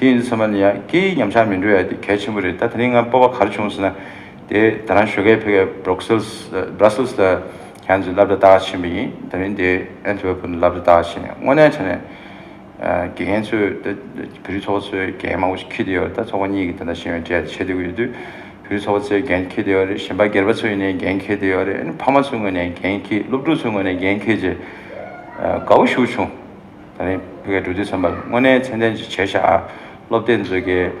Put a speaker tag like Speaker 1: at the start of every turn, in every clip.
Speaker 1: དེ་ཡིན་ཚོད་མ་ནི་ཡང་སྐད་ཡིག་ཉམས་ཆག་མི་འགྲོ་ཡ་དེ་གལ་ཆེན་པོ་རེད་ད་ད་ནི་ང་སྤོབས་པ་གར་བྱུང་ཟེར་ན་དེ་ད་རང་བཞོད་གད་ཕེ་གད Bruxelles Brussels ལ་གྱང་ཚོས་བསླབ་གྲ་ལྟ་ག་ཕྱིན་པ་ཡིན་ད་མིན་དེ Antwerpen ལ་བསླབ་གྲ་ལྟ་ག་ཕྱིན་དངོས་གནས་ཆ་ནས་དགེ་རྒན་ཚོས་ད་བོད་རིགས་ཚོགས་པ་ཚོའི་དགེ་རྒན་མང་པོ་ཞིག་ཁྱི་དེ་ཡོད་རེད་ད་ཚོགས་པ་གཉིས་ཀྱི་ད་ལྟ་ཤེས་ཡོན་ཅེས་ཆེད་བསྡུ་གི་ཡོད་དུས་བོད་རིགས་ཚོགས་པ་ཚོའི་དགེན་ཁྱི་དེ་ཡོད་རེད་གཞན་པ་སྒེར་པ་ཚོའི་ཡིན་ནའི་དགེན་ཁྱི་དེ་ཡོད་རེད་ཨ་ནི་ཕ་མ་ཚོའི་ངོས་ནས་དགེན་ཁྱི་སློབ་ཕྲུག་ཚོའི་ངོས་ནས་དགེན་ཁྱི་ཅེས་དགའ་བོ་བཞུགས་བྱུང། ད་རིང་བོད་སྐད་འབྲུ་དེ་སོན་པར་དངོས་གནས་མཚན་ལྡན་ཅིག་བྱས་ཤག་ཨ། སློབ་དེབ་མཛོད་དགེ།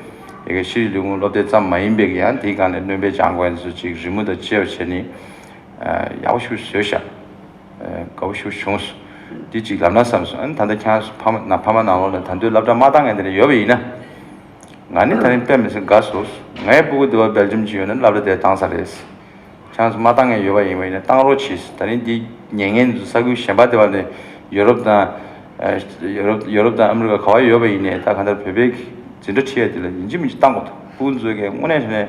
Speaker 1: ཡི་གེ་ཕྱིའི་ལུས་ཁུངས་སློབ་དེབ་ཙམ་མ་ཡིན་པའི་ཡང་དེའི་སྒང་ནས་སྣོན་པའི་སྦྱང་དགོས་ཚུལ་ཅིག་རི་མོ་དང་བཅས་པ་བྱས་ནི། ཡག་པོ་ཞུ་བཟོས་ཤག། དགའ་བོ་ཞུ་བྱུང། འདི་ཅིག་ལབ་ན་བསམ་སོང་ཨ། ད་ལྟ་ཁྱེད་རང་ཕ་མ་ཕ་མ་ནང་ལོག་ནས་ད་འདོད་ལབ་གྲ་མ་བཏང་ངས་དེ་ནས་ཡོད་པ་ཡིན་ན། ང་ནི་ད་རིང་དཔེ་མི་སྲིད་དགའ་བཟོ། ངའི་སྤུ་གུ་འདི་བ་སྦེལ་ཇམ་གྱི་ཡོད་ན་ལབ་གྲ་དེ་བཏང་ས་རེད། བྱང་སུ་མ་བཏང་ངེས་ཡོད་པ་ཡིན་པ་ནི་བཏང་རོགས་བྱས་ཟེར་ད་རིང་དེ་ཉེ་ངན་དུ་ས་ཁུལ་གཞན་པ་དེ་བ་ནི་ཡོ་རོབ་དང། ཡོ་རོབ་དང་ཨ་མི་རི་ཀ་ག་བ་ཡོད་པ་ཡིན་ནས་ད་ག་འདྲ་བོད་པའི་འཛིན་གྲྭ་ཁྲིད་ཡ་དེ་ལ་ཡིན་གཅིག་མིན་གཅིག་བཏང་དགོས་ཐུག་ཕུགས་འདུན་བཟོས་གལ་དངོས་གནས་ནས་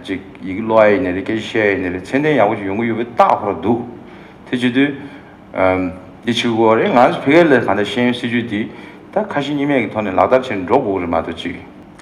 Speaker 1: ཅིག་ཡི་གེ་ཀློག་ཡ་ཡིན་ནས་རེད་སྐད་ཆ་བཤད་ཡ་ཡིན་ནས་རེད་ཚན་ལྡན་ཡག་པོ་ཞིག་ཡོང་གི་ཡོད་པའི་རྟགས་ཁོ་ར་འདུག་དེ་བྱེད་དུས། དེ་བྱེད་དགོས་བ་རེད་ང་ཚོ་བོད་སྐད་ལ་ག་འདྲ་ཤེས་ཡོན་སྲིད་ཇུས་དེ་ད་ཁ་ཞེ་གཉིས་མེད་ཀྱི་ཐོག་ནས་ལག་བསྟར་བྱེད་འགྲོ་དགོས་ཀྱི་རེད་མ་གཏོགས་ཅིག།